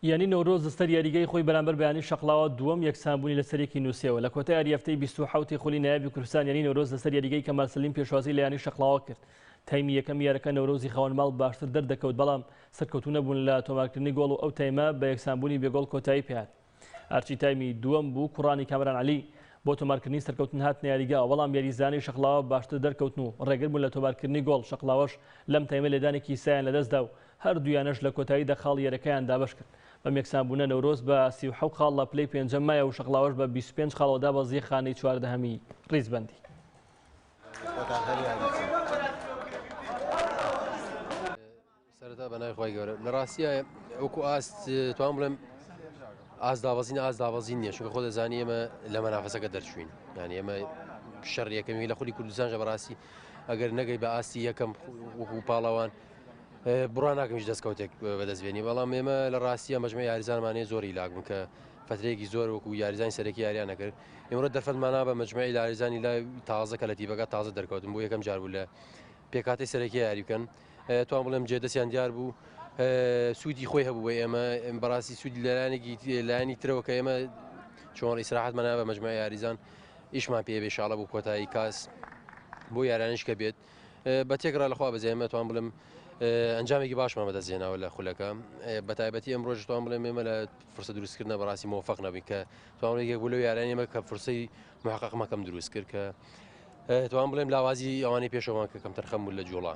یانی نەورۆز لەسەر یاریگای خۆی بەرامبەر بە یانی شەقڵاوە دووەم یەکسانبوونی لەسەر یەکی نووسیەوە لە کۆتای یاری هەفتەی بیست و حەوتی خولی نایابی کوردستان یانی نەورۆز لەسەر یاریگای کەمال سەلیم پێشوازی لە یانی شەقڵاوە کرد تایمی یەکەم یارەکە نەورۆزی خاوەن ماڵ باشتر دەردەکەوت بەڵام سەرکەوتوو نەبوون لە تۆمارکردنی گۆڵ و ئەو تایمە بە یەکسانبوونی بێ گۆڵ کۆتایی پێهات ئەرچی تایمی دووەم بوو کوڕانی کامران عەلی بۆ تۆمارکردنی سەرکەوتن هاتنە یاریگاوە بەڵام یاریزانانی شەقڵاوە باشتر دەرکەوتن و ڕێگربوون لە تۆمارکردنی گۆڵ شەقڵاوەش لەم تایمە لێدانێکی سایان لەدەستدا و هەردوو یانەش لە کۆتاییدا خاڵی یەرەکەیان دابەش کرد، بەم یەکسانبوونە نەورۆز بە سی و حەوت خاڵ لە پلەی پێنجەم مایە و شەقڵاوەش بە بیست و پێنج خاڵەوە دابەزییە خانەی چواردەهەمی ریزبەندی. بڕوا ناکەم هیچ دەستکەوتێک بەدەست بێنی بەڵام ئێمە لە ڕاستیە مەجمە یاریزانمانەیە زۆری لاک بوون کە فترەیەکی زۆر وەکو یاریزانی سەرەکی یاریان نەکرد ئێمەڕە دەرفەتمانە بە مجمعی لاریزانی لای تازە کە لە تیبەکە تازە دەرکەوتن بۆ یەکەم جار بوو لە پێکاتی سەرەکی یاری بکەن توان بڵێم جێدەستیان دیار بوو سوودی خۆی هەبوو بە ئێمە بەڕاستی سوود لەلایەنێکی لایانی ترەوە کە ئێمە چۆن ئیسراحەت مەنا بە مجمع یاریزان ئیشمان پێ بێشاڵە بوو کۆتایی کاس بۆ یارانش کە بێت بە تێکڕا لە خوا بەزیای مەتوان بڵم ئەنجامێکی باشمان بەدەست هێناوە لە خولەکە بە تایبەتی ئەم ڕۆژ توان بڵێ مێمە لە فرسە دروستکردە بەڕاستی مۆفق نەبی کە توانێک بوو لە یاران ئێمە کە فرسەی محققمەکەم دروست کرد کە توان بڵێم لاوازی ئەوانی پێشەوان کە کەم تەرخەم بوو لە جوڵا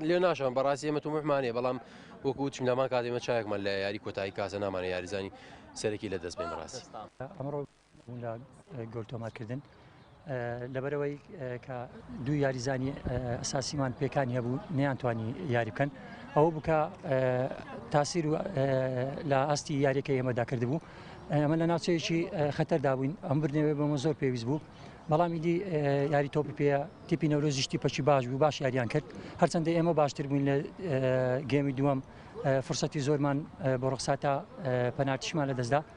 لێ ناشان بەڕاستی ئێمە تومحمانێ بەڵام وەکو چمدامان کاتێمە چاکمان لە یاری کۆتایی کاسە نامانە یاریزانی سەرەکی لە دەست بێن ڕاست ئەمڕۆ لە گۆل تۆمارکردن لەبەرەوەی کە دوو یاریزانی ئەساسیمان پێکانی هەبوو نیانتوانی یاری بکەن ئەوە بکە تاسیر و لە ئاستی یاریەکە ئێمەدا کرد بوو ئەمە لە ناوچەیەکی خەتەردا بووین ئەم بردنەوەی بەمە زۆر پێویست بوو بەڵامی دی یاری تۆپی پێ تیپی نەورۆزیشتی پەچی باش بوو باش یاریان کرد هەرچەندە ئێمە باشتر بووین لە گەمی دووەم فرسەتی زۆرمان بۆ ڕخساتە پەناتیشمان لە دەستدا